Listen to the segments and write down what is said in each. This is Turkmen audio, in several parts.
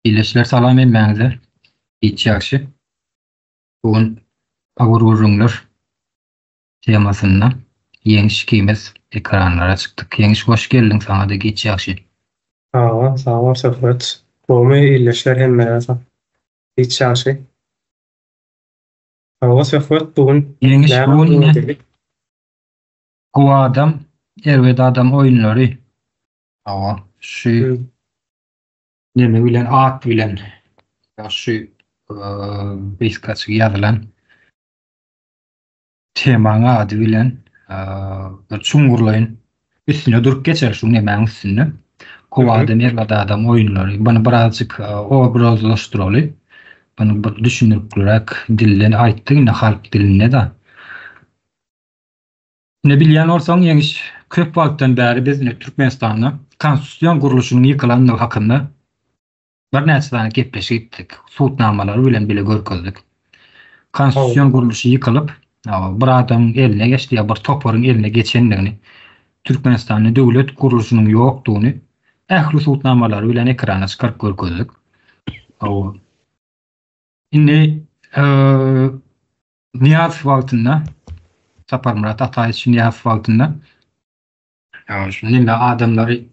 Ýeşler salam hemmäňize. Hiç ýagşy. Bu gün Agur gürrüňler temasynda Ýeňiş ikimiz ekranlara çykdyk. Ýeňiş hoş geldiň saňa-da hiç ýagşy. Sag bol, sag bol Söhbet. Gowymy ildeşler hemmäňize sag. Hiç ýagşy. Hawa Söhbet bu gün Ýeňiş bu gün ine Gowy adam, erbet adam oýunlary Hawa, şu neme bilen at bilen ýa şu beýskaçygy ýazylan temaň ady bilen bir çuňňurlaýyn üstüne durup geçer şu nemäň üstünde. Kowada Merwada adam oýunlary. Bunu birazjyk obrazlaşdyraly. Bunu bir düşündiriplik dilden aýtdy, indi halk dilinde de. Ine bilýän bolsaň Ýeňiş, köp wagtdan bäri biz ine Türkmenistanda konstitusion gurluşynyň ýykylandygy hakynda birnäçe sany gepleşik etdik, sud namalary bilen bile görkezdik. Konstitusion gurluşy ýykylyp, bir adamyň eline geçdi ýa bir toparyň eline geçendigini, Türkmenistanda döwlet gurluşynyň ýokdugyny ähli sud namalary bilen ekrana çykaryp görkezdik. Indi Nyýazow wagtynda, Saparmyrat Ataýewiç Nyýazow wagtynda şuny adamlary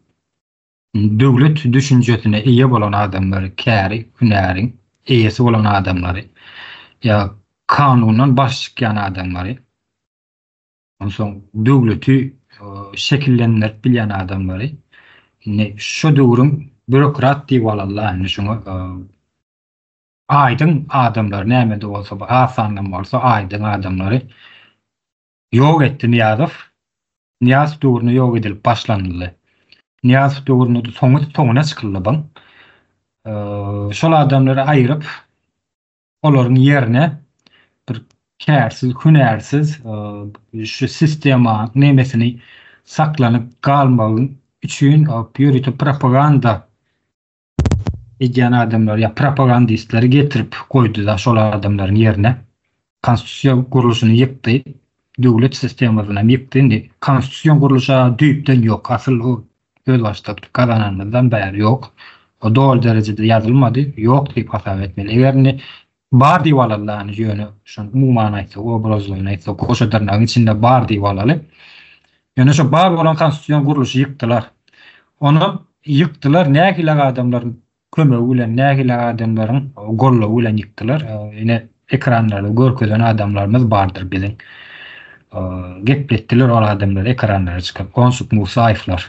döwlet düşünjesine eýe bolan adamlary, käri, hünäriň eýesi bolan adamlary, ýa kanundan baş çykýan adamlary, onsoň döwleti şekillendirip bilýän adamlary indi şu döwrüň býurokrat diýip alarlar, indi şuňa Aýdyň adamlary nämede bolsa bir az sandan bolsa aýdyň adamlary ýok etdi Nyýazow. Nyýazow döwründe ýok edilip başlanyldy. Nyýazow döwründe-de soňy soňuna çykyldy buň. Şol adamlary aýyryp olaryň ýerine bir kärsiz, hünärsiz şu sistema nemesini saklanyp galmagy üçin ýörite propaganda edýän adamlar ýa propagandistleri getirip goýdy-da şol adamlaryň ýerine. Konstitusiýa gurluşyny ýykdy. Döwlet sistemasyny hem ýykdy. Indi konstitusion gurluşa düýpden ýok. Asyl o özbaşdak gazananymyzdan bäri ýok. O doly derejede ýazylmady. Ýok diýip hasap etmeli. Eger indi Bar diýip alalany ýöne şony umuman aýtsak obrazlygyny aýtsak goşa dyrnagyň içinde bar diýip alaly. Ýöne şo bar bolan konstitusion gurluşy ýykdylar. Onam ýykdylar nähilak adamlaryň kömegi bilen nähilak adamlaryň goldawy bilen ýykdylar. Ine ekranlarda görkezen adamlarymyz bardyr biziň. Gepletdiler ol adamlar ekranlara çykyp Gonşuk Musaýewler.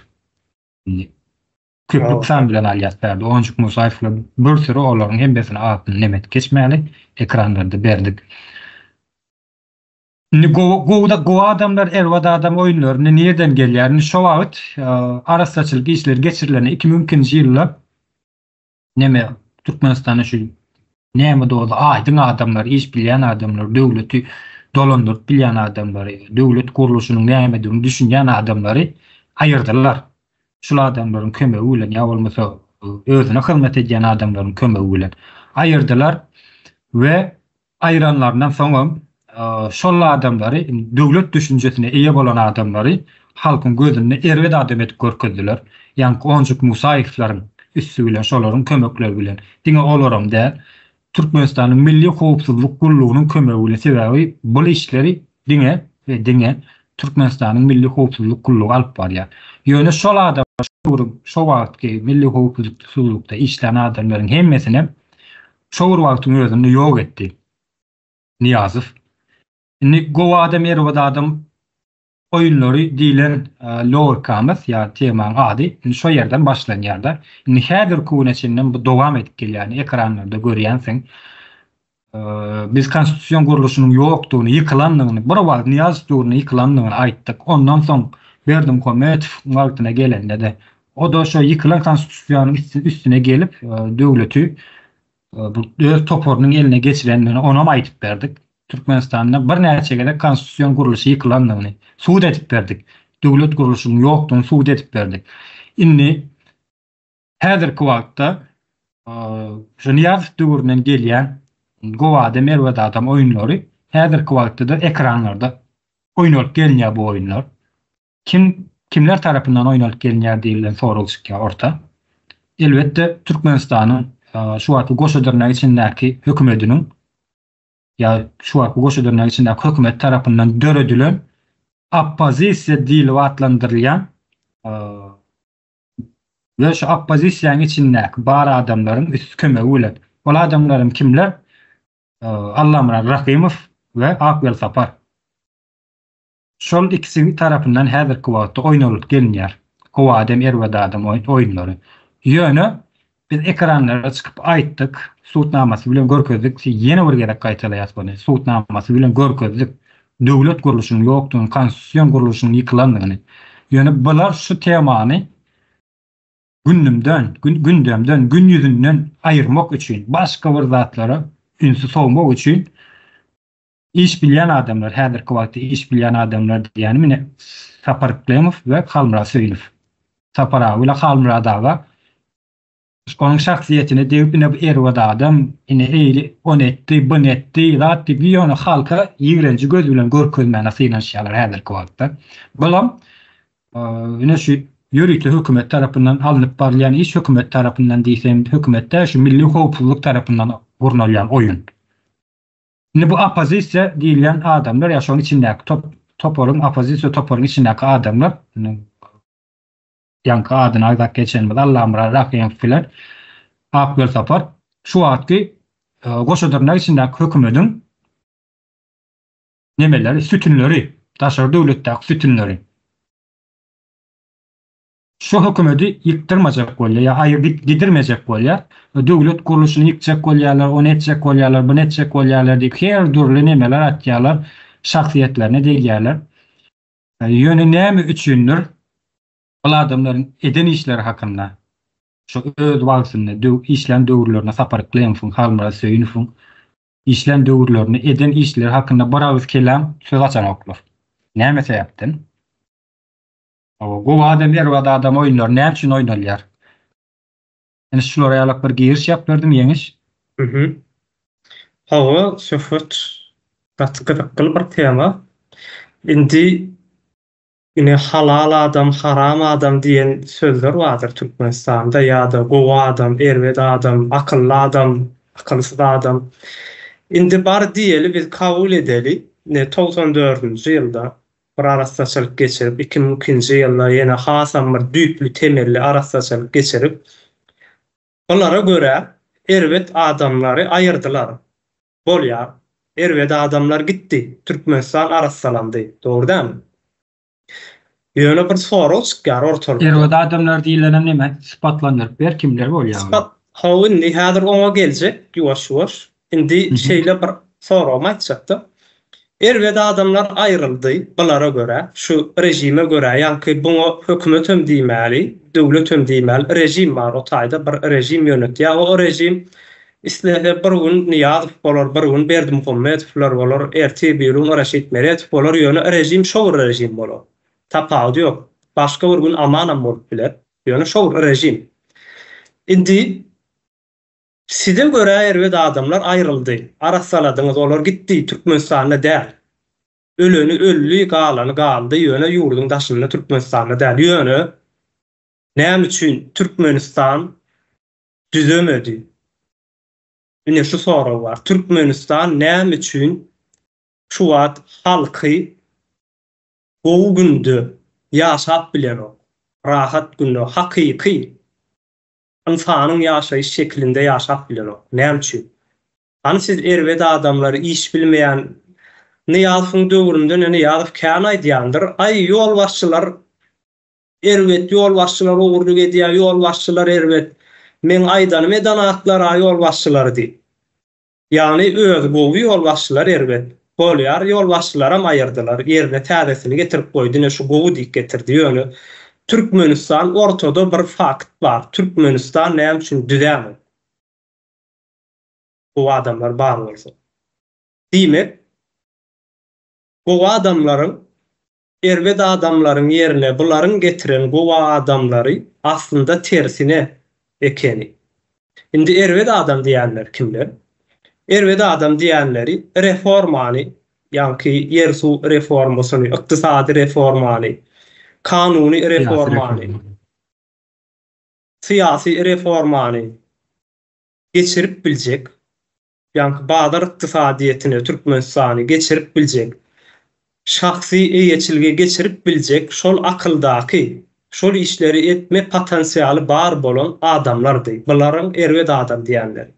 Köp luksan bilen alýas Berdi Onjuk Musaýew bilen bir süri olaryň hemmesini atyny nemet geçmäli ekranlarda berdik. Indi gowy gowy gowy adamlar erbad adam oýunlaryny nirden gelýär indi şo wagyt arassaçylyk işleri geçirilende iki müňkinji ýylda Neme Türkmenistana şu näme doly aýdyň adamlar iş bilýän adamlar döwleti dolandyryp bilýän adamlary döwlet gurluşynyň nämedigini düşünýän adamlary aýyrdylar. Şul adamlaryň kömegi bilen ýa bolmasa özüne hyzmat edýän adamlaryň kömegi bilen aýyrdylar we aýranlaryndan soňam şol adamlary döwlet düşünjesine eýe bolan adamlary halkyň gözünde erbet adam edip görkezdiler. Ýaňky Onjuk Musaýewisleriň üsti bilen şolaryň kömekleri bilen, diňe olaram däl, Türkmenistanyň Milli howpsuzlyk gullugynyň kömegi bilen, sebäbi bul işleri diňe we diňe Türkmenistanyň Milli howpsuzlyk gullugy alyp barýar. Ýöne şol adamlar şu döwrüň, şo wagtky Milli howpsuzlykda işlän adamlaryň hemmesinem şo bir wagtyň özünde ýok etdi. Nyýazow. Indi gowy adam, erbet adam oýunlary diýlen logikamyz ýa temanyň ady indi şo ýerden başlanýar-da. Indi häzirki güne çenlem bu dowam edip gelýär. Ekranlarda görýänsiň. Biz konstitusion gurluşynyň ýokdugyny, ýykylandygyny, bir wagt Nyýazow döwründe ýykylandygyny aýtdyk. Ondan soň Berdimuhamedow wagtyna gelende-de O-da şo ýykylan Konstitusiýanyň üstüne gelip, döwleti bu öz toparynyň eline geçirendigini onam aýdyp berdik. Türkmenistanda birnäçe gezek konstitusion gurluşy ýykylandygyny subut edip berdik. Döwlet gurluşynyň ýokdugyny subut edip berdik. Indi häzirki wagtda şu Nyýazow döwründen gelýän gowada-merwedadam oýunlary häzirki wagtda-da ekranlarda oýnalyp gelinýär bu oýunlar. Kim, kimler tarapyndan oýnalyp gelinýär diýilýän sorag çykýar orta. Elbetde, Türkmenistanyň şu wagtky Goşa-Dyrnak içindäki hökümediniň ýa şu wagtky Goşa-Dyrnak içindäki hökümet tarapyndan döredilen oppozisiýa diýlip atlandyrylýan we şu oppozisiýanyň içindäki bar adamlaryň üst kömegi bilen. Ol adamlaram kimler? Allamyrat Rahymow we Ak Welsapar. Şol ikisi tarapyndan häzirki wagtda oýnalyp gelinýär. Gowy adam erbet adam oýunlary. Ýöne biz ekranlara çykyp aýtdyk, sud namasy bilen görkezdik, ýene bir gezek gaýtalaýas muny, sud namasy bilen görkezdik, döwlet gurluşynyň ýokdugyny, konstitusion gurluşyň ýykylandygyny. Ýöne bular şu temany gündümden, gündemden, gün ýüzünden aýyrmak üçin, başga bir zatlara ünsi sowmak üçin Iş bilýän adamlar, häzirki wagtda iş bilýän adamlar diýýänim ine Sapar Yklymow we Halmyrat Söýünow. Sapar aga bilen Halmyrat aga onuň şahsyýetine degip ine bu erbet adam, ine eýli ony etdi, buny etdi, zat diýip ýöne halka ýigrenji göz bilen görkezmäne synanyşýarlar häzirki wagtda. Bulam ine şu ýörite hökümet tarapyndan alnyp barylýan iş hökümet tarapyndan diýseň hökümet däl şu milli howpsuzlyk tarapyndan gurnalýan oýun. Indi bu oppozisiýa diýilýän adamlar ýa şoň içindäki top toparyň oppozisiýa toparyň içindäki adamlar indi ýaňky adyny aýdap geçenimiz Allamyrat Rahymow bilen Ak Welsapar şu wagtky goşadyrnak içindäki hökümediň nemeleri sütünleri daşary döwletdäki sütünleri. Şu hökümedi ýykdyrmajak bolýar, ýa aýyr gidirmejek bolýar, döwlet gurluşyny ýykjak bolýarlar, ony etjek bolýarlar, buny etjek bolýarlar diýip her dürli nemeler atýarlar, şahsyýetlerine degýärler. Ýöne näme üçindir ol adamlaryň eden işleri hakynda şo öz wagtynda döw işlän döwürlerinde Sapar Klemowyň, Halmyrat Söýünowyň işlän döwürlerinde eden işleri hakynda bir agyz kelam söz açanoklar. Näme sebäpden? Hawa gowy adam erbad adam oýunlary näme üçin oýnalýar? Ine şulara ýalak bir giriş ýap berdim Ýeňiş. Mhm. Hawa Söhbet gaty gyzykly bir tema. Indi ine halal adam haram adam diýen sözler bardyr Türkmenistanda ýa-da gowy adam erbed adam akylly adam akylsyz adam. Indi bar diýeli biz kabul edeli ine togsan dördünji ýylda Bir arassaçylyk geçirip, iki müň ikinji ýylda ýene hasam bir düýpli, temelli arassaçylyk geçirip, bulara görä erbet adamlary aýyrdylar. Bolýar. Erbet adamlar gitdi. Türkmenistan arassalandy. Dogry dälmi? Ýöne bir sorag çykýar ortalykda. Erbet adamlar diýilenem näme? Sypatlandyryp ber, kimler bolýar olar? Sypat, hawa indi häzir oňa geljek ýuwaş-ýuwaş. Indi şeýle bir soragymy aýtjakdym. Erbet adamlar aýryldy, bulara görä, şu režime görä, ýaňky buňa hökümet hem diýmäli, döwlet hem diýmäli, režim bar, o taýda bir režim ýönetýär we o režim islese bir gün Nyýazow bolar, bir gün Berdimuhamedowlar bolar, ertir birigün Raşid Meredow bolar, ýöne režim şo bir režim bolar. Tapawudy ýok. Başga bir gün Aman hem bolup biler, ýöne şo bir režim. Indi Size görä erbet adamlar aýryldy, arassaladyňyz olar gitdi Türkmenistanda däl. Öleni öldi galany galdy ýöne ýurduň daşynda Türkmenistanda däl ýöne näme üçin Türkmenistan düzemedi ine şu sorag bar Türkmenistan näme üçin şu wagt halky gowy günde ýaşap bilenok rahat günde hakyky Ynsanyň ýaşaýyş şekilinde ýaşap bilenok. Näme üçin? Hany siz erbet adamlary, iş bilmeýän Nyýazowyň döwründen ene Nyýazow kän aýdýandyr, Aý, ýolbaşçylar erbet, ýolbaşçylar ogurlyk edýär, ýolbaşçylar erbet. Meň aýdanym edanatlar-a ýolbaşçylary diýip. Ýagny özi gowy ýolbaşçylar erbet bolýar ýolbaşçylaram aýyrdylar ýerine täzesini getirip goý dine şu gowy diýip getirdi ýöne Türkmenistan ortada bir fakt bar Türkmenistan näme üçin düzämok gowy adamlar bar bolsa diýmek gowy adamlaryň Erbet adamlaryň ýerine bularyň getiren gowy adamlary aslynda tersine ekeni. Indi erbet adam diýenler kimler? Erbet adam diýenleri reformany, ýaňky ýer-suw reformasyny, ykdysady reformany, kanuny reformany, syýasy reformany geçirip biljek, Ýaňky bazar ykdysadyýetine Türkmenistany geçirip biljek, şahsy eýeçilge geçirip biljek şol akyldaky, şol işleri etme potensialy bar bolan adamlardy bularyň erbet adam diýenleri.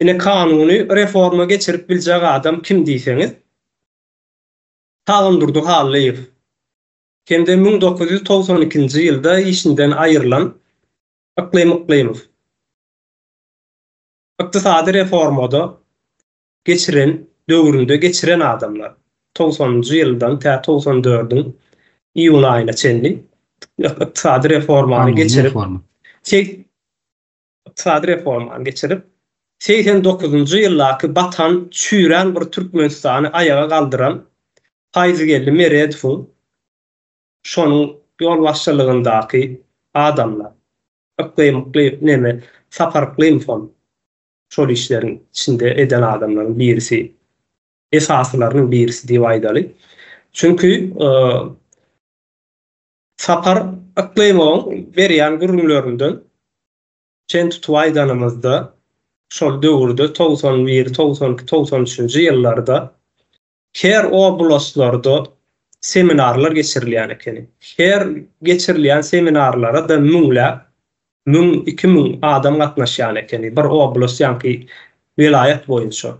Ine kanuny reforma geçirip biljek adam kim diýseňiz, Sagandurdy Hallyýew hem-de müň dokuz ýüz togsan ikinji ýylda işinden aýrylan Yklym Yklymow. Ykdysady reformada geçiren döwründe geçiren adamlar togsanynjy ýyldan tä togsan dördüň iýun aýyna çenli ykdysady reformany geçirip ykdysady reformany geçirip segsen dokuzynjy ýyldaky batan çüýrän bir türkmenistany aýaga galdyran paýzgeldi meredowyň şonuň ýolbaşçylygyndaky adamlar Yklymykly neme Sapar Yklymowam şol işleriň içinde eden adamlaryň birisi, esasylarynyň birisi diýip aýdaly. Çünki Sapar Yklymowyň berýän gürrüňlerinden çen tutup aýdanymyzda, şol döwürde togsan bir, togsan iki, togsan üçünji ýyllarda Her oblaslarda seminarlar geçirilýän ekeni. Her geçirilýän seminarlara-da müňläp, müň, iki müň adam gatnaşýan ekeni, bir oblast ýaňky welaýat boýunça.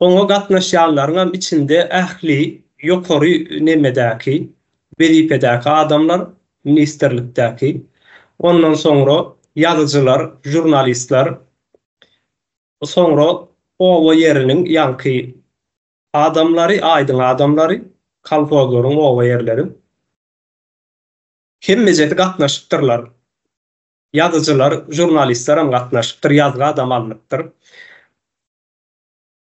Oňa gatnaşýanlaryňam içinde ähli ýokary nemedäki, wezipedäki adamlar, ministrlikdäki, ondan soňra ýazyjylar, žurnalistler, Soňra oba ýeriniň ýaňky adamlary, aýdyň adamlary, kolhozlaryň, oba ýerleriň hemmejesi gatnaşypdyrlar. Ýazyjylar, žurnalistlerem gatnaşypdyr, ýazgy adam alnypdyr.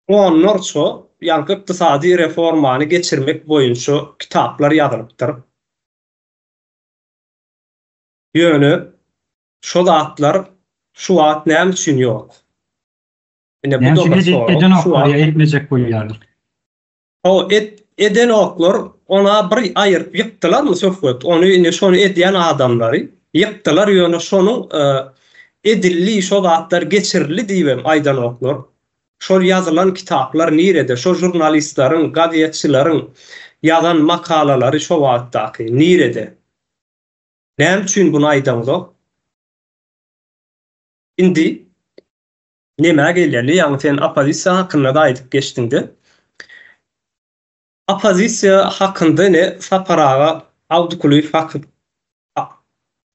Onlarça ýaňky ykdysady reformany geçirmek boýunça kitaplar ýazylypdyr. Ýöne Şo zatlar şu wagt näme üçin ýok? Ine bu da bir sorag. Näme üçin eden oklar ýa etmejek bolýarlar? Hawa et eden oklar ona bir aýyryp ýykdylarmy söhbet? Ony indi şony edýän adamlary ýykdylar ýöne şonuň edildi şo zatlar geçirildi diýibem aýdan oklar. Şol ýazylan kitaplar nirede? Şo žurnalistleriň, gazetçileriň ýazan makalalary şo wagtdaky nirede? Näme üçin buny aýdaňzok? Indi nemä geleli, ýagny sen oppozisiýa hakynda-da aýdyp geçdiňde. Oppozisiýa hakynda ine Sapar aga Abdukulyýew haky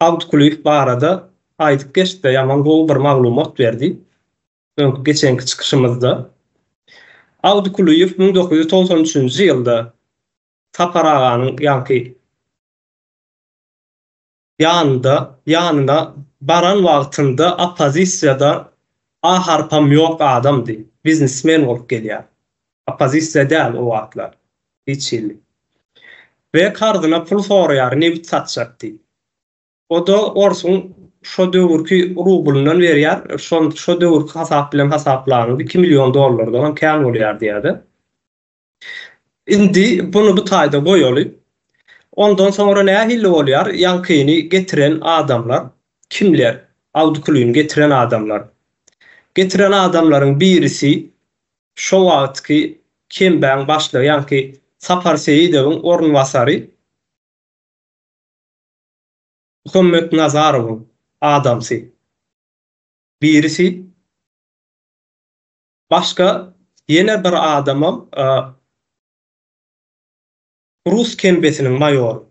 Abdukulyýew barada aýdyp geçdi, ýaman gowy bir maglumat berdi öňki geçenki çykyşymyzda. Abdukulyýew müň dokuz ýüz togsan üçünji ýylda Sapar aganyň ýaňky Ýanynda, ýanyna baran wagtynda oppozisiýada A harpam ýok adamdy. Biznesmen bolup gelýär. Oppozisiýa däl o wagtlar. Hiç hili. We karzyna pul soraýar, nebit satjakdy. O-da orsuň şo döwürki rublyndan berýär. Şo döwürki hasap bilen hasaplanyňda iki million dollardanam kän bolýardy ýa-da. Indi buny bu taýda goýaly. Ondan soňra nähili bolýar? Ýaňkyny getiren adamlar kimler? Awdikulyny getiren adamlar. Getiren adamlaryň birisi şo wagtky kembäň başlygy ýaňky Sapar Seýidowyň orunbasary Muhammetnazarowyň adamsy. Birisi. Başga ýene bir adamam rus kembesiniň maýory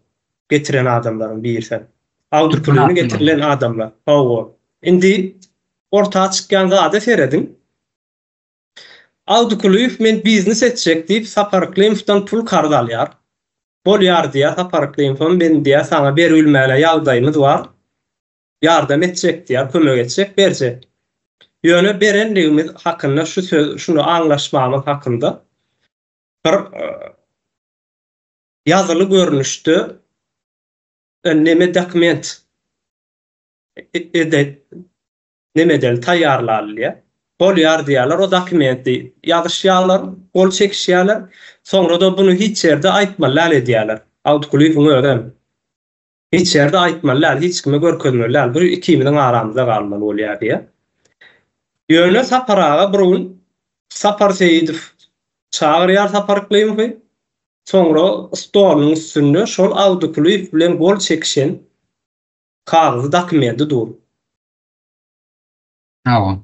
getiren adamlaryň biri sen. Awdur pulini getirilen adamlar. Hawa. Indi orta çykýan zada serediň. Awdukulyýew men biznes etjek diýip Sapar Klimowdan pul karz alýar. Bolýar diýýär Sapar Klimowam men diýýär saňa beribilmäne ýagdaýymyz bar. ýardam etjek diýýär, kömek etjek, berjek. Ýöne berendigimiz hakynda şu söz, şuny aňlaşmamyz hakynda bir ýazyly görnüşde neme dokument ede neme edeli taýýarlalyýar. Bolýar diýýärler, o dokumenti ýazyşýarlar, gol çekişýärler, soňra-da bunu hiç ýerde aýtmaly däl edýärler. Awtkulybyň özem Hiç ýerde aýtmaly däl, hiç kime görkezmeli däl, bu ikimiziň aramyzda galmaly bolýar diýýär. Ýöne Sapar aga bir gün Sapar Seýidow çagyrýar Sapar Yklymowy, soňra stolunyň üstünde şol Awdykulyýew bilen gol çekişen kagyzy, dokumenti dur. Hawa.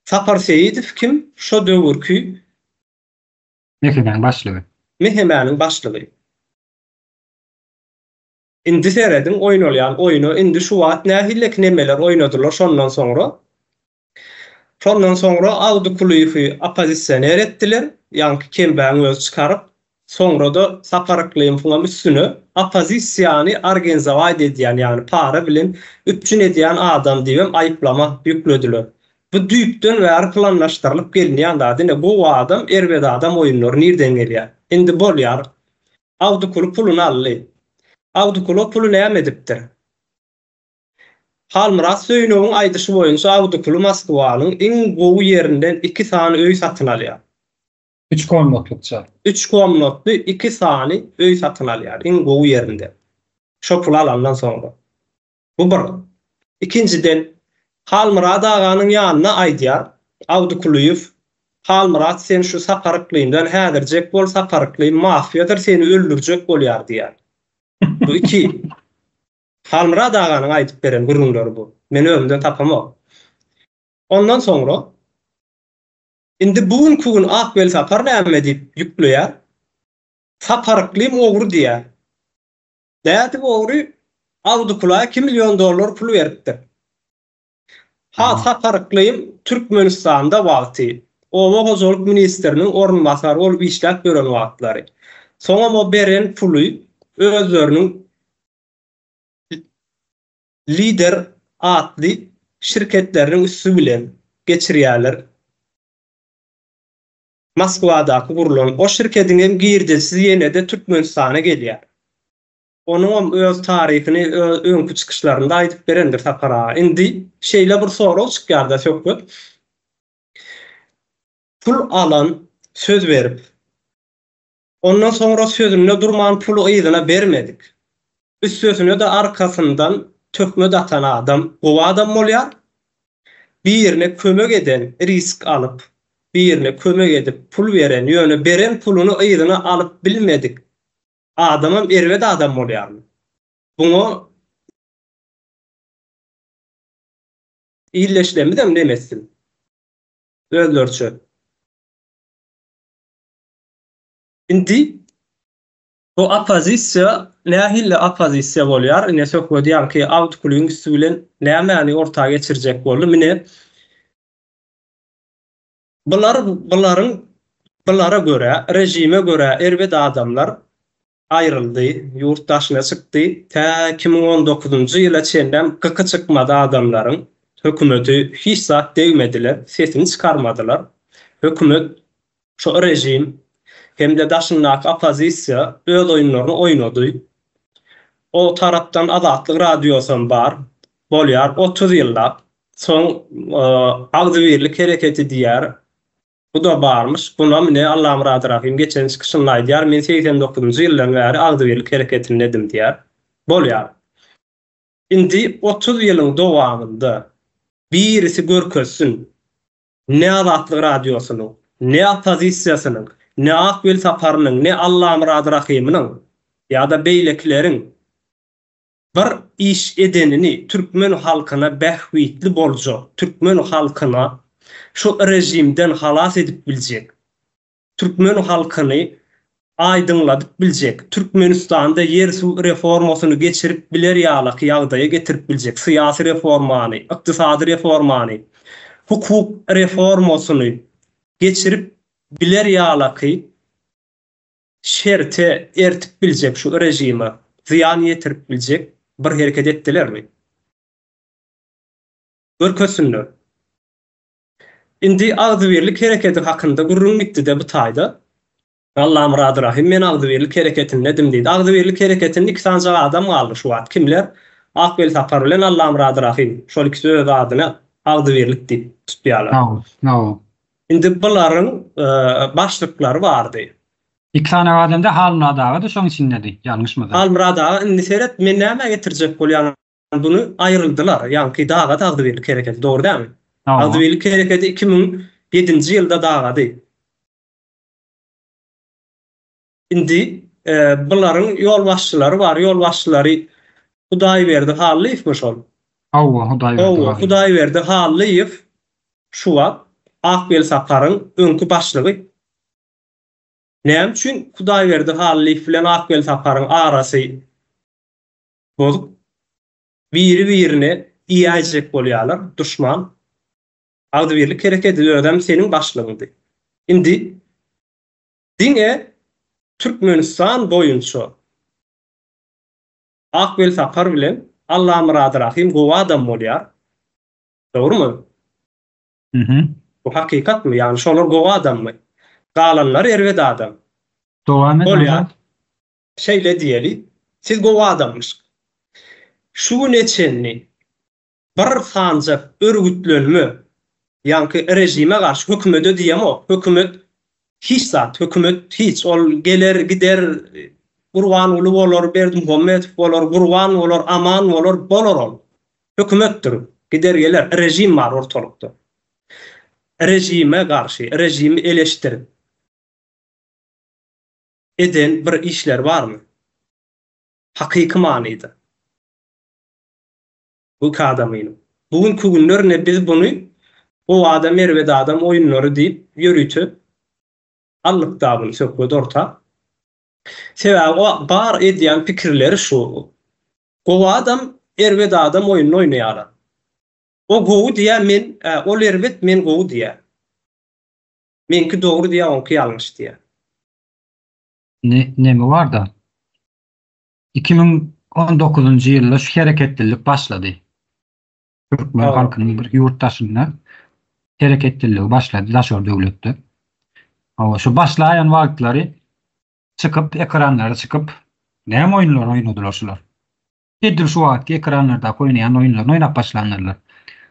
Sapar Seýidow kim? Şo döwürki. Mehemäniň başlygy. Mehemäniň başlygy. Indi serediň oýnalýan oýna indi şu wagt nähilleki nemeler oýnadylar şondan soňra şondan soňra Awdykulyýewi oppozisioner etdiler ýaňky kembagyň özi çykaryp soňrada Sapar Yklymowyňam üstüne oppozisiýany argenzowaýt edýän ýagny para bilen üpjün edýän adam diýibem aýyplama ýüklediler bu düýpden bäri planlaşdyrylyp gelinýän zat ine gowy adam erbet adam oýunlary nirden gelýär indi bolýar Agdykulu puluny aldy. Agdykulu o puly näme edipdir? Halmyrat Söýünowyň aýdyşy boýunça Agdykulu Moskwanyň iň gowy ýerinden iki sany öý satyn alýar. Üç komnatlykça. Üç komnatly iki sany öý satyn alýar iň gowy ýerinden. Şo puly alandan soňra. Bu bir. Ikinjiden, Halmyrat aganyň ýanyna aýdýar, Abdy Kulyýew, Halmyrat sen şu Sakar Yklymdan häzirjek bol Sakar Yklym mafiýadyr seni öldürjek bolýar diýýär. Bu iki. Halmyrat aganyň aýdyp beren gürrüňleri bu. Men özümden tapamok. Ondan soňra Indi bu günki gün Ak Welsapar näme diýip ýükleýär. Sakar Yklym ogry diýýär. Bärde ogry Awdukula iki million dollar pul beripdir. Ha Saparyklym Türkmenistanda wagty, oba hojalyk ministriniň orunbasary bolup işläp ýören wagtlary. Soňam o beren puly özleriniň Lider atly şirketleriniň üsti bilen geçirýärler. Moskwadaky gurlan o şirkediň hem girdejisi ýene-de Türkmenistana gelýär. Onuňam öz taryhyny öňki çykyşlarynda aýdyp berendir Sapar aga. Indi şeýle bir sorag çykýar-da söhbet, pul alan, söz berip, Ondan soňra sözünde durman puly yzyna bermedik. Üstesine-de arkasyndan töhmet atan adam gowy adam bolýar. Birine kömek eden, risk alyp, birine kömek edip pul beren, ýöne beren puluny yzyna alyp bilmedik adamam erbet adam bolýarmy? Buňa illeşlemizem nemes dil özleriçe. Indi bu oppozisiýa nähili oppozisiýa bolýar? Ine söhbet ýaňky awtoulygyň üsti bilen nämäni orta geçirjek boldy? Mine bular bularyň bulara görä, režime görä erbet adamlar Aýryldy, ýurt daşyna çykdy. Tä iki müň on dokuzynjy ýyla çenlem gyky çykmady adamlaryň. Hökümeti hiç zat degmediler, sesini çykarmadylar. Hökümet, şo režim hem-de daşyndaky oppozisiýa öz oýunlaryny oýnady. O tarapdan Azatlyk radiosam bar. Bolýar otuz ýyllap. Soň Agzybirlik hereketi diýýär. Bu-da barmyş, bunam ne Allamyrat Rahym geçen çykyşynda aýdýar, men segsen dokuzynjy ýyldan bäri agzybirlik hereketindedim diýýär. Bolýar. Indi otuz ýylyň dowamynda birisi görkezsin, ne Azatlyk Radiosynyň, ne oppozisiýasynyň, ne Ak Welsaparynyň, ne Allamyrat Rahymynyň ýa-da beýlekileriň Bir iş edenini türkmen halkyna bähbitli boljak, türkmen halkyna şu režimden halas edip biljek, türkmen halkyny aýdyňladyp biljek, Türkmenistanda ýer-suw reformasyny geçirip biler ýalaky ýagdaýa getirip biljek syýasy reformany, ykdysady reformany, hukuk reformasyny geçirip biler ýalaky şerte ertip biljek şu režime zyýan ýetirip biljek bir hereket etdilermi? Görkezsinler. Indi agzybirlik herekedi hakynda gürrüň gitdi-de bu taýda. Allamyrat Rahym men agzybirlik hereketindedim diýdi. Agzybirlik hereketinde iki sanjak adam galdy şu wagt. Kimler? Ak Welsapar bilen Allamyrat Rahym. Şol ikisi öz adyny agzybirlik diýip tutýarlar. Hawa, hawa. Indi bularyň başlyklary bardy. Iki sany aga dende Halmyrat aga-da şoň içindedi, ýalňyşmasam. Halmyrat aga indi seret, men nämä getirjek bolýan buny, aýryldylar. Ýaňky daga Dagdybirlik hereketi, dogry dälmi? Hawa. Dagdybirlik hereketi iki müň ýedinji ýylda dagady. Indi bularyň ýolbaşçylary bar, ýolbaşçylary Hudaýberdi Hallyýewmi şol? Hawa, Hudaýberdi Hallyýew. Hawa, Hudaýberdi Hallyýew şu wagt Ak Welsaparyň öňki başlygy. Näme üçin Hudaýberdi Hallyýew bilen Ak Welsaparyň arasy bozuk? Biri-birine iýäýjek bolýarlar, duşman. Agzybirlik herekedi özem seniň başlygyňdy. Indi Diňe Türkmenistan boýunça Ak Welsapar bilen Allamyrat Rahym gowy adam bolýar. Dogrumy? Mhm. Bu hakykatmy? Ýagny şolar gowy adammy? Galanlary erbet adam. Dowam et Bolýar. Azat. Şeýle diýeli, siz gowy adamyşk. Şu güne çenli Bir sanjak örgütlenme, ýaňky režime garşy, hökümede diýemok, hökümet hiç zat, hökümet hiç, ol geler, gider, Gurbanguly bolar, Berdimuhamedow bolar, Gurban bolar, Aman bolar, bolar ol. Hökümetdir, gider geler, režim bar ortalykda. Režime garşy, režimi eleşdirip eden bir işleri barmy? Hakyky manyda. Ilki adam inim. Bu günki günler ine biz buny Gowy adam erbet adam oýunlary diýip ýörite allykda buny söhbet orta. Sebäbi o bar edýän pikirleri şu Gowy adam erbet adam oýunyny oýnaýarlar. O gowy diýýär men ol erbet men gowy diýýär. Meňki dogry diýýär oňky ýalňyş diýýär. Indi neme barda? Iki müň on dokuzynjy ýylda şu hereketlilik başlady. Türkmen halkynyň bir ýurt daşynda hereketliligi başlady daşary döwletde. Hawa, şu başlaýan wagtlary çykyp, ekranlara çykyp, näme oýunlar oýnadylar şular? Edil şu wagtky ekranlardaky oýnaýan oýunlaryny oýnap başlandylar.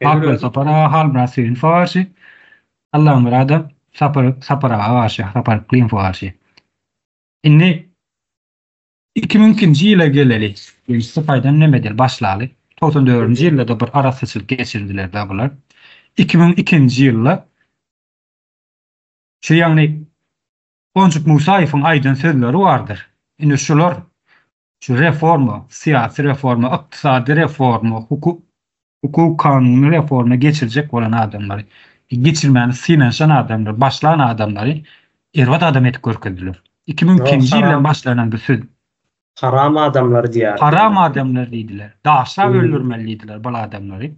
Halkara Sapar aga, Halmyrat Söýünowa garşy, Allamyrada Sapar, Sapar aga garşy, Sapar Klymowa garşy. Indi Iki müňkinji ýyla geleli, ýöne Sypaýdan nämedel başlaly, togsan dördünji ýylda-da bir arassaçylyk geçirdiler-dä bular. Iki müň ikinji ýylda şu ýagny Onjuk Musaýewiň aýdan sözleri bardyr. Ine şular şu reforma, syýasy reforma, ykdysady reforma, hukuk Hukuk kanuny reforma geçirjek bolan adamlary, geçirmäni synanyşan adamlary, başlan adamlary erbet adam edip görkezdiler. Iki müň ikinji ýyldan başlanan bu söz. Haram adamlar diýýärdiler. Haram adamlar diýdiler. Daşlap öldürmeli diýdiler bul adamlary.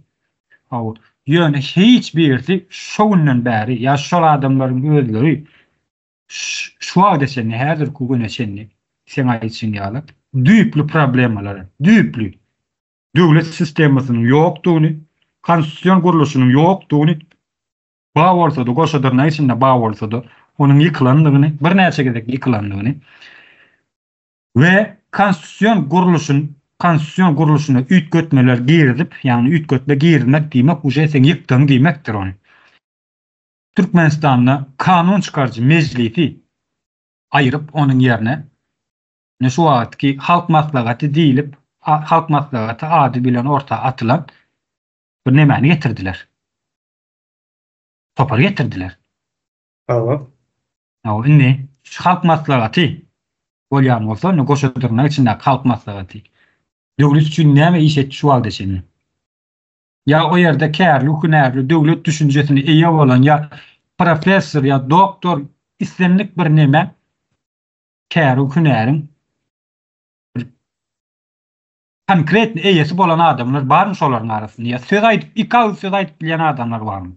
Hawa, ýöne hiç birisi şo günden bäri ýa şol adamlaryň özleri şu wagta çenli, häzirki güne çenli, seň aýdyşyň ýaly, düýpli problemalary, düýpli, döwlet sistemasynyň ýokdugyny, konstitusion gurluşynyň ýokdugyny, bar bolsa-da, goşadyrnak içinde bar bolsa-da, onuň ýykylandygyny, birnäçe gezek ýykylandygyny we konstitusion gurluşyň, konstitusion gurluşyna üýtgetmeler girizip, ýagny üýtgetme girizmek diýmek uje sen ýykdyň diýmekdir ony. Türkmenistanda kanun çykaryjy mejlisi aýryp, onuň ýerine Ine şu wagtky Halk Maslahaty diýlip, Halk Maslahaty ady bilen orta atylan bir nemäni getirdiler. Topary getirdiler. Hawa. Hawa, indi şu Halk Maslahaty bolýan bolsa, indi goşa dyrnak içindäki Halk Maslahaty döwlet üçin näme iş etdi şu wagta çenli? Ýa o ýerde kärli, hünärli, döwlet düşünjesine eýe bolan ýa professor ýa doktor islendik bir neme Käri hünäriň bir konkretny eýesi bolan adamlar barmy şolaryň arasynda? Ýa söz aýdyp, iki agyz söz aýdyp bilýän adamlar barmy?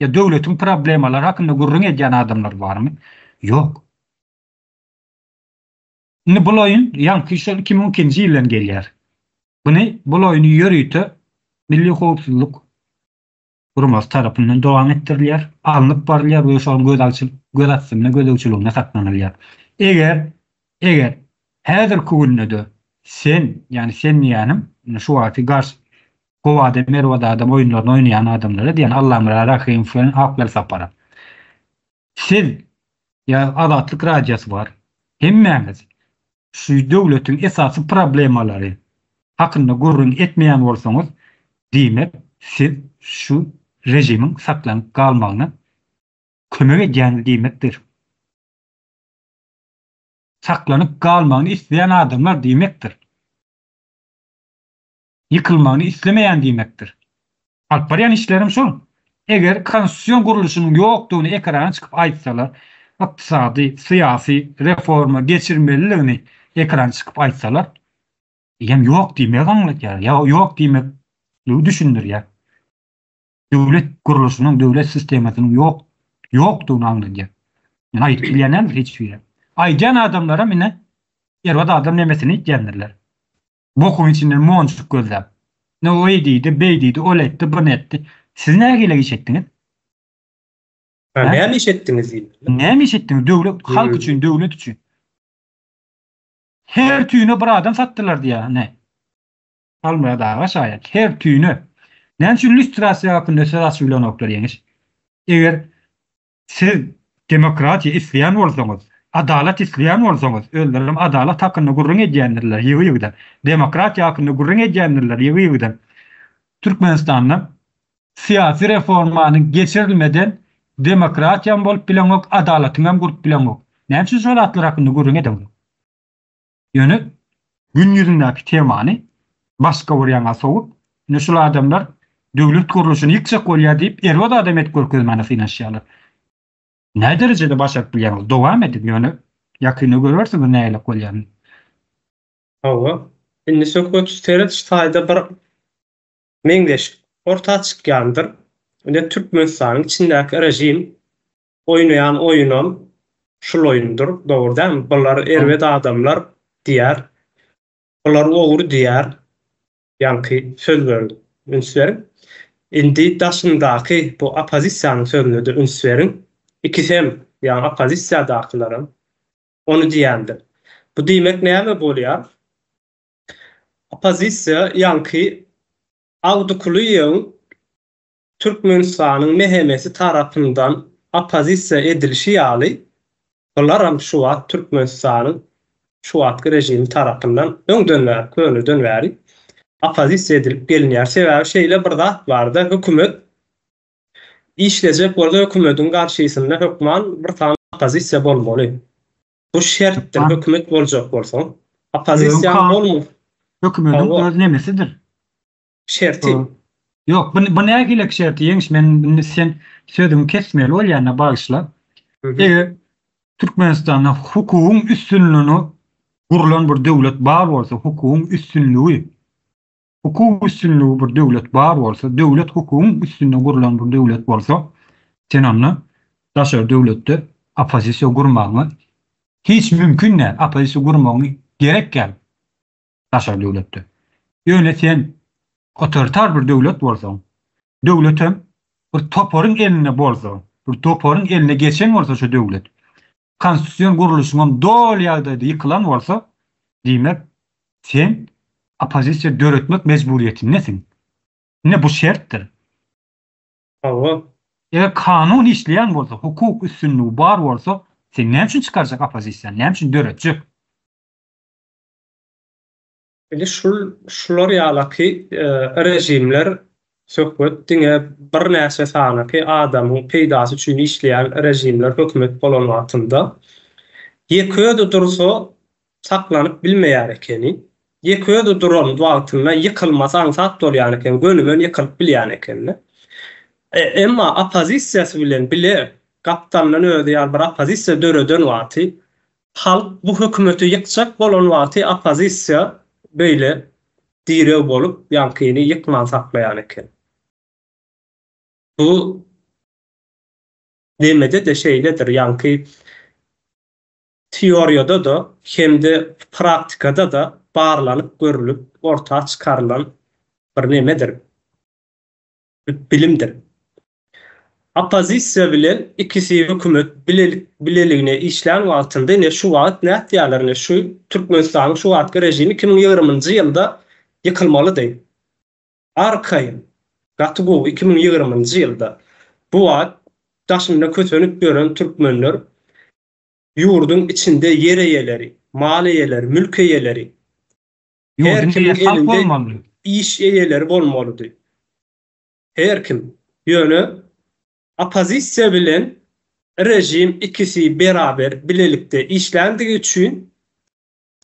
Ýa döwletiň problemalary hakynda gürrüň edýän adamlar barmy? Ýok. Indi bul oýun ýaňky şol iki müň ikinji ýyldan gelýär. Buny bul oýny ýörite Milli howpsuzlyk guramasyz tarapyndan dowam etdirilýär, alnyp barylýar we şu an gözalçyl göz astynda gözegçiliginde saklanylýar. Eger, eger häzirki günde-de sen, ýagny sen diýýänim, indi şu wagty gars Gowada, Merwada adam oýunlaryny oýnaýan adamlara diýýän Allamyrat Rahymow bilen Akbel Saparow. Siz ýa Azatlyk Radiosy bar, hemmäňiz şu döwletiň esasy problemalary hakynda gürrüň etmeýän bolsaňyz, diýmek siz şu režimiň saklanyp galmagyna kömek edýäňiz diýmekdir. Saklanyp galmagyny isleýän adamlar diýmekdir. ýykylmagyny islemeýän diýmekdir. Alyp barýan işlerim şol. Eger konstitusion gurluşynyň ýokdugyny ekrana çykyp aýtsalar, ykdysady, syýasy reforma geçirmeliligini ekrana çykyp aýtsalar, eýýäm ýok diýmegi aňladýar, ýa ýok diýmekligi düşündirýär. Döwlet gurluşynyň, döwlet sistemasynyň ýok, ýokdugyny aňladýar. Ýöne aýdyp bilýän näme hiç biri. Aýdýan adamlaram ine, erbet adam nemesini iýtýändirler. Bokuň içinden monjuk gözläp. Ine, o eý diýdi, beý diýdi, ol etdi, bunu etdi. Siz nägile iş etdiňiz? Hä? Näme iş etdiňiz diýdiler. Näme iş etdiňiz? Döwlet, halk üçin, döwlet üçin. Her tüýüne bir adam satdylar diýýär, ine. Halmyrat aga şaýat. Her tüýüne. Näme üçin lýustrasiýa hakynda söz açyp bilenoklar, Ýeňiş? Eger Siz demokratiýa isleýän bolsaňyz, adalat isleýän bolsaňyz, özlerem adalat hakynda gürrüň edýändirler ýygy-ýygydan, demokratiýa hakynda gürrüň edýändirler ýygy-ýygydan. Türkmenistanda syýasy reformanyň geçirilmeden demokratiýam bolup bileňok, adalatyňam gurup bileňok. Näme üçin şol zatlar hakynda gürrüň edeňok? Ýöne Gün ýüzündäki temany başga bir ýaňa sowup, indi şul adamlar döwlet gurluşyny ýykjak bolýar diýip, erbet adam edip görkezmäne synanyşýarlar. Nä derejede başaryp bilýäňiz? Dowam ediň, ýöne ýakynda görersiňiz nähili bolýanyny. Hawa, indi söhbet serediş taýda bir meňzeşik orta çykýandyr. Indi Türkmenistanyň içindäki režim Oýnaýan oýunam şul oýundyr, dogry dälmi? Bular erbet adamlar diýer. Bular ogry diýer. Ýaňky sözlere üns beriň. Indi daşyndaky bu oppozisiýanyň sözünede üns beriň. Ikisi hem, ýagny oppozisiýadakylaram ony diýendir. Bu diýmek näme bolýar? Oppozisiýa ýaňky Awdykulyýewiň Türkmenistanyň MHM-si tarapyndan oppozisiýa edilişi ýaly, bularam şu wagt Türkmenistanyň şu wagtky režimi tarapyndan öňden bäri, köneden bäri oppozisiýa edilip gelinýär. Sebäbi şeýle bir zat bar-da, hökümet işlejek bolsa, hökümetiň garşysynda hökman bir sany oppozisiýa bolmaly. Bu şertdir, hökümet boljak bolsaň, oppozisiýaň bolmasa. Hökümetiň öz nemesidir. Şerti. Ýok, bu bu nähilek şerti ýeňiş men indi sen sözüňi kesmeli bolýanda bagyşla. Eger Türkmenistanda hukugyň üstünligini gurlan bir döwlet bar bolsa, hukugyň üstünligi hukuk üstünligi bir döwlet bar bolsa, döwlet hukugyň üstünde gurlan bir döwlet bolsa, sen onda daşary döwletde oppozisiýa gurmagyňa hiç mümkin däl, oppozisiýa gurmagyň gerek däl. daşary döwletde. Ýöne sen otoritar bir döwlet bolsaň, döwletem bir toparyň elinde bolsa, bir toparyň eline geçen bolsa şu döwlet, konstitusion gurluşyňam doly ýagdaýda ýykylan bolsa, diýmek, sen oppozisiýa döretmek mejburiýetindesiň. Ine bu şertdir. Hawa. Eger kanun işleýän bolsa, hukuk üstünligi bar bolsa, sen näme üçin çykarjak oppozisiýany, näme üçin döretjek? Indi şul şular ýalaky režimler söhbet diňe birnäçe sanaky adamyň peýdasy üçin işleýän režimler hökümet bolan wagtynda ýeke özi dursa saklanyp bilmeýär ekeni. Ýeke özi duran wagtynda ýykylmasy aňsat bolýan eken, gönümen ýykylyp bilýän ekeni. Emma oppozisiýasy bilen bile gapdalyndan özi ýaly bir oppozisiýa döreden wagty Halk bu hökümeti ýykjak bolan wagty oppozisiýa beýle direw bolup ýaňkyny ýykman saklaýan eken. Bu demede-de şeýledir, ýaňky teoriýada-da hem-de praktikada-da barlanyp görülip orta çykarylan bir nemedir. bilimdir. Oppozisiýa bilen ikisi hökümet bilelik bileligine işlän wagtynda ine şu wagt nätýärler ine şu Türkmenistanyň şu wagtky režimi iki müň ýigrimi-nji ýylda ýykylmalydy. Arkaýyn gaty gowy iki müň ýigrimi-nji ýylda bu wagt daşynda kösenip ýören türkmenler ýurduň içinde ýer eýeleri, mal eýeleri, mülk eýeleri Her kimiň elinde iş eýeleri bolmalydy. Her kim. Ýöne oppozisiýa bilen režim ikisi beraber bilelikde işländigi üçin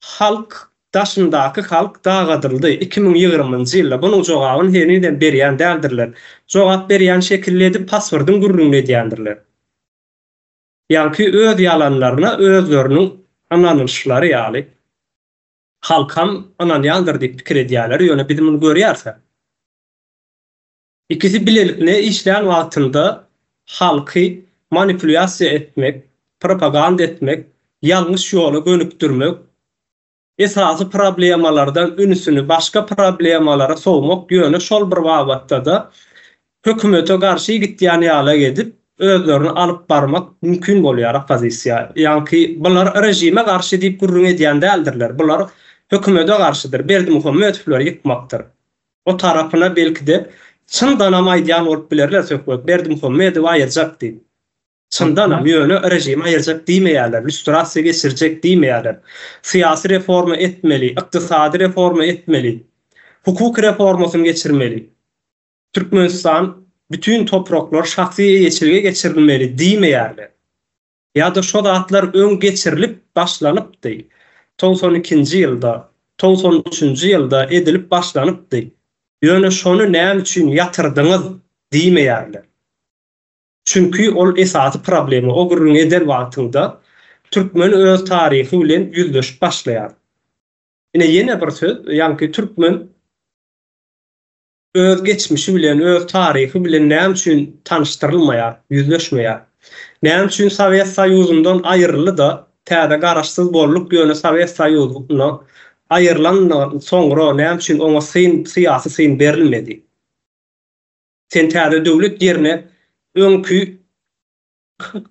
halk daşyndaky halk dagadyldy. Iki müň ýigrimnji ýylda bunuň jogabyny henizem berýän däldirler. Jogap berýän şekilli edip passwordyň gürrüňini edýändirler. Ýaňky öz ýalanlaryna özleriniň ynanylyşlary ýaly. Halkam ynanýandyr diýip pikir edýärler, ýöne biz muny görýäris-ä. Ikisi bilelikne işlän wagtynda halky manipulýasiýa etmek, propaganda etmek, ýalňyş ýola gönükdirmek, esasy problemalardan ünsüni başga problemalara sowmak, ýöne şol bir babatda-da hökümete garşy gitýän ýaly edip özlerini alyp barmak mümkin bolýar oppozisiýa. Ýaňky bular režime garşy diýip gürrüň edýän däldirler. Bular hökümede garşydyr. Berdimuhamedowlary ýykmakdyr. O tarapyna belki-de çyndanam aýdýan bolup bilerler söhbet Berdimuhamedowy aýyrjak diýip. Çyndanam, ýöne režimi aýyrjak diýmeýärler, lýustrasiýa geçirjek diýmeýärler. Syýasy reforma etmeli, ykdysady reforma etmeli, hukuk reformasyny geçirmeli. Türkmenistan bütin topraklar şahsy eýeçilige geçirilmeli diýmeýärler. Ýa-da şo zatlar öň geçirilip başlanypdy. Togsan ikinji ýylda, togsan üçünji ýylda edilip başlanypdy. Ýöne şony näme üçin ýatyrdyňyz diýmeýärler. Çünki ol esasy problema o gürrüňi eden wagtyňda türkmen öz taryhy bilen ýüzleşip başlaýar. Ine ýene bir söz, ýaňky türkmen. öz geçmişi bilen, öz taryhy bilen näme üçin tanyşdyrylmaýar, ýüzleşmeýär? Näme üçin Sowet Soýuzyndan aýryldy-da, täze garaşsyz bolduk, ýöne Sowet Soýuzyndan aýrylandan soňra näme üçin oňa syn, syýasy syn berilmedi? Sen täze döwlet ýerine öňki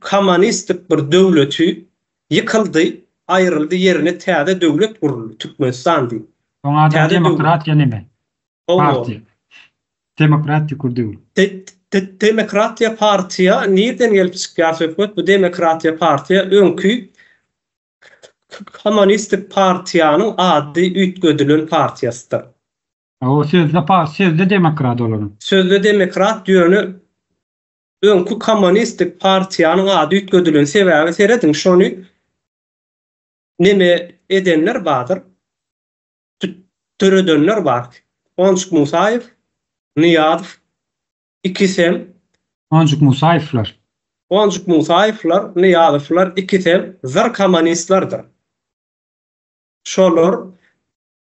Komonistik bir döwleti ýykyldy, aýryldy ýerine täze döwlet guruldy, Türkmenistan diýip. Oň ady demokratiýa neme? Partiýa. Demokratiýa kur döwül. Demokratiýa partiýa nirden gelip çykýar söhbet? Bu demokratiýa partiýa öňki komonistik partiýanyň ady üýtgedilen partiýasydyr. Hawa sözde sözde demokrat olaryň. Sözde demokrat ýöne Öňki komonistik partiýanyň ady üýtgedilen sebäbi serediň şony neme edenler badyr döredenler bar Onjuk Musaýew Nyýazow ikisem Onjuk Musaýewler. Onjuk Musaýewler Nyýazowlar ikisem zyr komonistlerdir şolar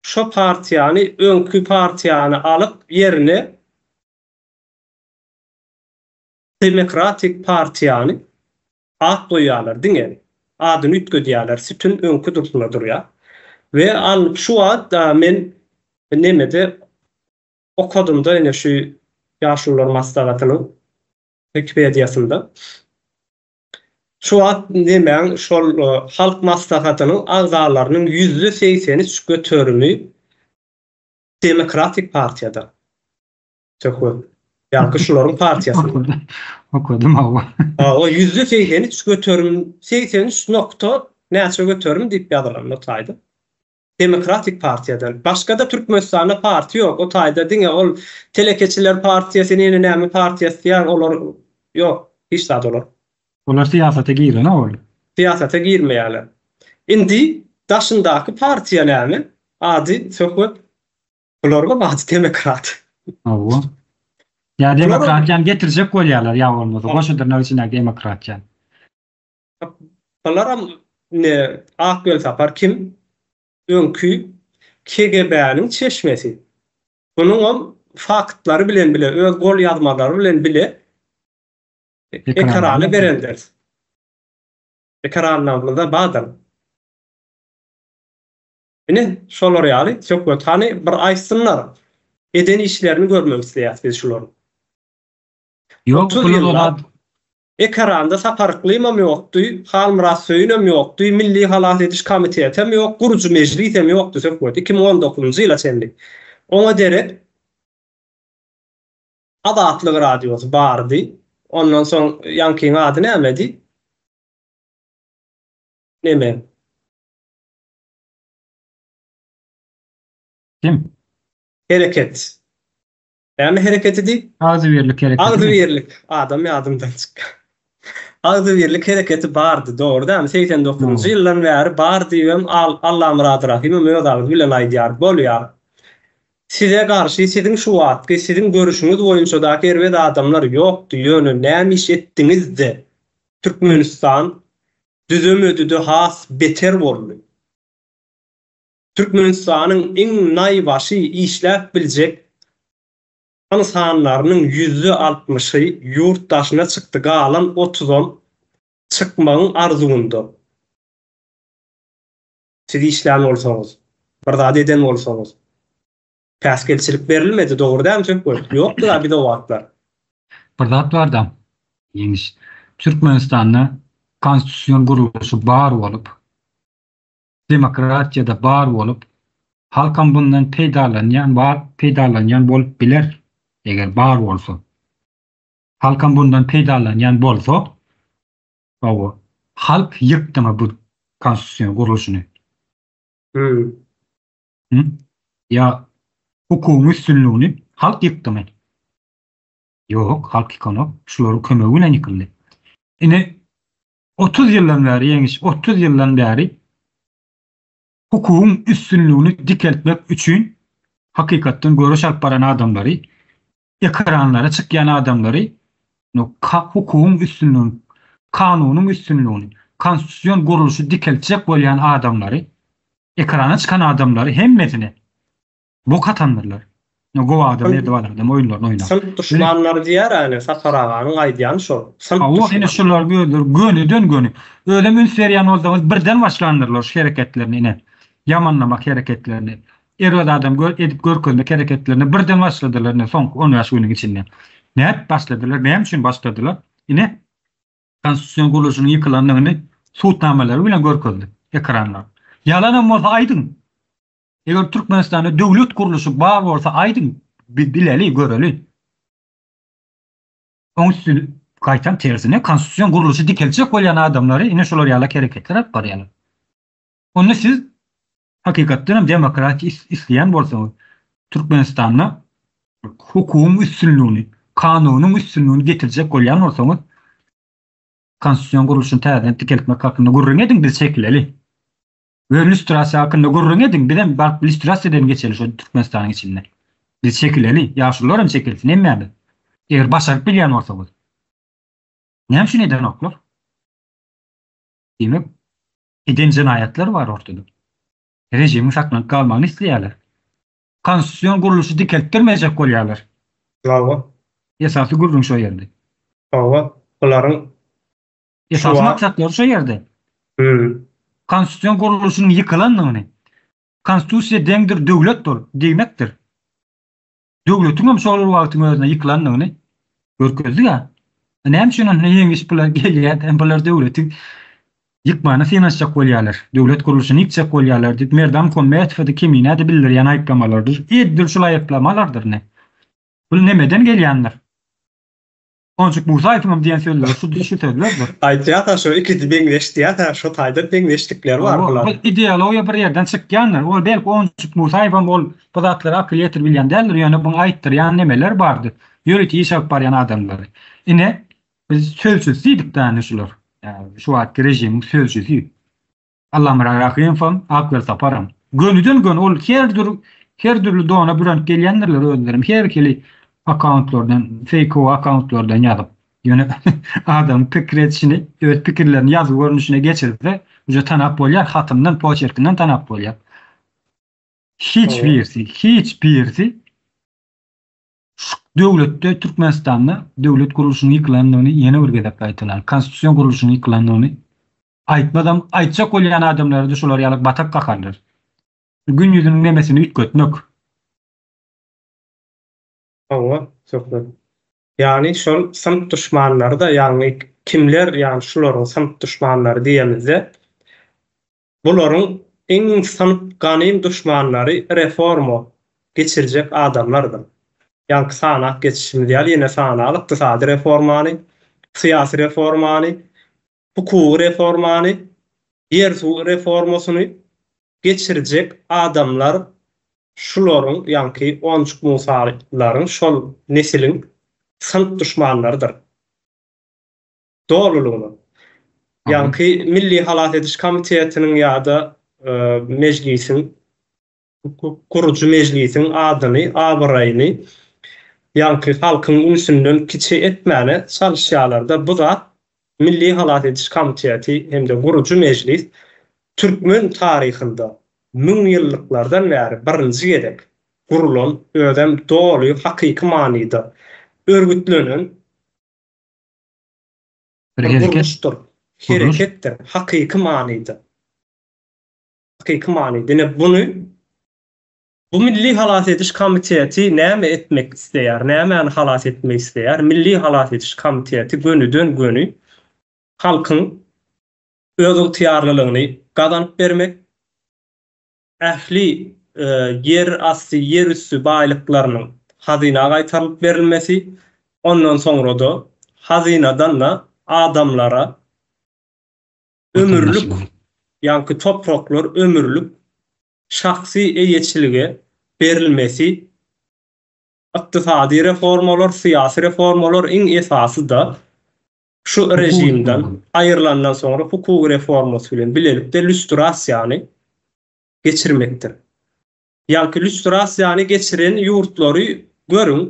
şo partiýany öňki partiýany alyp ýerine Demokratik partiýany at goýýarlar diňe adyny üýtgedýärler sütün öňki durşuna durýa we al şu wagt men nemede okadymda ine şu ýaşulular maslahatynyň wikipediýasynda şu wagt nemäň şol halk maslahatynyň agzalarynyň ýüzde segsen üç göterimi demokratik partiýadan Söhbet. Ýaňky şularyň partiýasynda. Okadym hawa. Hawa, ýüzde segsen üç göterim, segsen üç nokta näçe göterim diýip ýazylan o taýda. Demokratik partiýadan. Başga-da Türkmenistanda partiýa ýok. O taýda diňe ol telekeçiler partiýasy, ýene näme partiýasy diýýär, olar ýok. Hiç zat olar. Olar syýasata giren owal. Syýasata girmeýärler. Indi daşyndaky partiýa näme? Ady, söhbet. Bularga baty temekrat. Hawa. Ýa demokratiýany getirjek bolýarlar ýa bolmasa goşudyna içindäki demokratiýany. Bularam indi Ak Welsapar kim? Öňki KGB-niň çeşmesi. Munuňam faktlary bilen bile öz golýazmalary bilen bile ekrana berendiris. Ekranlarymyzda bardyr. Ine, şolar ýaly, söhbet hany bir aýtsynlar, eden işlerini görmek isleýäs biz şularyň. Ýok, bu ýyllap ekeranda Sapar Yklymam ýokdy, Halmyrat Söýünem ýokdy, Milli halas ediş komitetem ýok, gurujy mejlisem ýokdy söhbet, iki müň on dokuzynjy ýyla çenli. Oňa derek Azatlyk radiosy bardy, ondan soň ýaňkyň ady nämedi? Nemeň? Kim? Hereket. Näme hereketidi? Agzybirlik hereketi. Agzybirlik. Adam ýadymdan çykýa. Agzybirlik hereketi bardy, dogry dämi? Segsen dokuzynjy ýyldan bäri bar diýibem Allamyrat Rahymam öz agzy bilen aýdýar. Bolýar. Size garşy siziň şu wagtky, siziň görüşiňiz boýunçadaky erbet adamlar ýokdy, ýöne näme iş etdiňiz-de, Türkmenistan düzemedi-de has beter boldy. Türkmenistanyň iň naýbaşy işläp biljek ynsanlarynyň ýüzde altmyşy ýurt daşyna çykdy galan otuzam çykmagyň arzuwynda. Siz işlän bolsaňyz, bir zat eden bolsaňyz, Päsgelçilik berilmedi, dogry däl söp goý. Ýokdur-a biz o wagtlar. Bir zat bar-da, Ýeňiş. Türkmenistanda konstitusion gurluşy bar bolup, demokratiýa-da bar bolup, halkam bundan peýdalanýan bar, peýdalanýan bolup biler, eger bar bolsa. Halkam bundan peýdalanýan bolsa, hawa, halk ýykdyňa bu konstitusion gurluşyny. Hü. Hı? Ýa hukugyň üstünligini halk ýykdymy? Ýok, halk ýykanok, şularyň kömegi bilen ýykyldy. Ine, otuz ýyldan bäri, Ýeňiş, otuz ýyldan bäri hukugyň üstünligini dikeltmek üçin hakykatdan göreş alyp baran adamlary Ekranlara çykýan adamlary hukugyň üstünligini, kanunyň üstünligini, konstitusion gurluşy dikeltjek bolýan adamlary, ekrana çykan adamlary hemmesini bok atandyrlar. Gowy adam edip adam oýunlaryny oýnap. Synp duşmanlary diýer ene Sapar aganyň aýdýany şol. Synp duşmanlary. Hawa ene şular özleri gönüden göni. Özem üns berýän bolsaňyz birden başlandyrlar şu hereketlerini ene. Ýamanlamak hereketlerini. Erbet adam gör edip görkezmek hereketlerine birden başladylar ine soňky on bäş günüň içinde. Nädip başladylar, näme üçin başladylar? Ine konstitusion gurluşynyň ýykylandygyny sud namalary bilen görkezdi ekranlar. Ýalanam bolsa aýdyň. Eger Türkmenistanda döwlet gurluşy bar bolsa aýdyň bileli, göreli. Oň üstüne gaýtam tersine konstitusion gurluşy dikeltjek bolýan adamlary ine şular ýaly hereketler alyp barýarlar. Onda siz Hakykatdan hem demokratiýa isleýän bolsaňyz, Türkmenistanda hukugyň üstünligini, kanunyň üstünligini getirjek bolýan bolsaňyz, konstitusion gurluşyny täzeden dikeltmek hakynda gürrüň ediň, biz çekileli. We lýustrasiýa hakynda gürrüň ediň, biz hem baryp lýustrasiýa bilen geçeli şol Türkmenistanyň içinde. Biz çekileli, ýaşulular hem çekilsin, hemmämiz. Eger başaryp bilýän bolsaňyz. Näme üçin edenoklar? Diýmek, eden jenaýatlary bar ortada. Režimiň saklanyp galmagyny isleýärler. Konstitusion gurluşy dikeltdirmejek bolýarlar. Hawa. Esasy gürrüň şo ýerde. Hawa, bularyň. Esasy maksatlary şo ýerde. Hüm. Konstitusion gurluşynyň ýykylandygyny, Konstitusiýa deňdir döwletdir diýmekdir. Döwletiň hem şol bir wagtyň özünde ýykylandygyny görkezdi-ä. Näme üçin onda ýeňiş bular gelýär, hem bular döwleti ýykmana synanyşjak bolýarlar, döwlet gurluşyny ýykjak bolýarlar diýip, Merdan Muhammetowa-da, Kemine-de bildirýän aýyplamalardyr. Edil şul aýyplamalardyr ine. Bu nämeden gelýändir? Onjik Musaýewiňem diýen sözleri şu şu sözlerdir. Aýtýa-ha şu ikisi meňzeş diýýä-hä şu taýdan meňzeşlikleri bar Hawa, bularyň. bu ideologiýa bir ýerden çykýandyr. Ol belki Onjik Musaýewem ol bu zatlara akyl ýetirip bilýän däldir, ýöne buň aýtdyrýan nemeler bardyr, ýörite iş alyp barýan adamlary. Ine, biz sözcüsi diýdik-dä indi şular. Ýa şu wagtky režimiň sözcüsi. Allamyrat Rahymowyň, Aklar Saparyň. Gönüden-göni ol her dür her dürli dona bürenip gelýändirler özlerem her hili akkauntlardan, feýkowy akkauntlardan ýazyp. Ýöne adamyň pikir edişini, öz pikirlerini ýazgy görnüşine geçirse, uje tanap bolýar, hatyndan, poçerkinden tanap bolýar. Hiç birisi, hiç birisi şu döwletde, Türkmenistanda döwlet gurluşynyň ýykylandygyny ýene bir gezek gaýtalaryn, konstitusion gurluşyň ýykylandygyny Aýtmazam, aýtjak bolýan adamlary-da şular ýaly batak kakarlar. Gün ýüzüniň nemesini üýtgetmek. Hawa, Söhbet. Ýagny şol synp duşmanlary-da, ýagny kimler ýagny şularyň synp duşmanlary diýemizde, bularyň iň synp ganym duşmanlary reforma geçirjek adamlardyr. Ýaňky sanap geçişimiz ýaly ýene sanaly, ykdysady reformany, syýasy reformany, hukugy reformany, ýer-suw reformasyny geçirjek adamlar şularyň, ýaňky Onjuk Musalaryň, şol nesiliň synp duşmanlarydyr. Dolulygyna. Ýaňky Milli halas ediş komitetiniň ýa-da Mejlisiň Hukuk gurujy mejlisiň adyny, abyraýyny ýaňky halkyň ünsünden kiçi etmäne çalyşýarlar-da, bu zat Milli halas ediş komiteti hem-de gurujy mejlis türkmen taryhynda müňýyllyklardan bäri birinji gezek gurulan, özem doly hakyky manyda örgütlenen bir gurluşdyr, hereketdir, hakyky manyda. Hakyky many dine buny bu milli halas ediş komiteti näme etmek isleýär, nämäni halas etmek isleýär? Milli halas ediş komiteti gönüden göni halkyň özygtyýarlylygyny gazanyp bermek, ähli ýer asty, ýer üsti baýlyklarynyň hazyna gaýtarylyp berilmesi, ondan soňra-da hazynadan-da adamlara ömürlik, ýaňky topraklar ömürlik şahsy eýeçilige berilmesi, ykdysady reformalar, syýasy reformalar iň esasy-da şu režimden aýrylandan soňra hukuk reformasy bilen bilelikde lýustrasiýany geçirmekdir. Ýaňky lýustrasiýany geçiren ýurtlary görüň,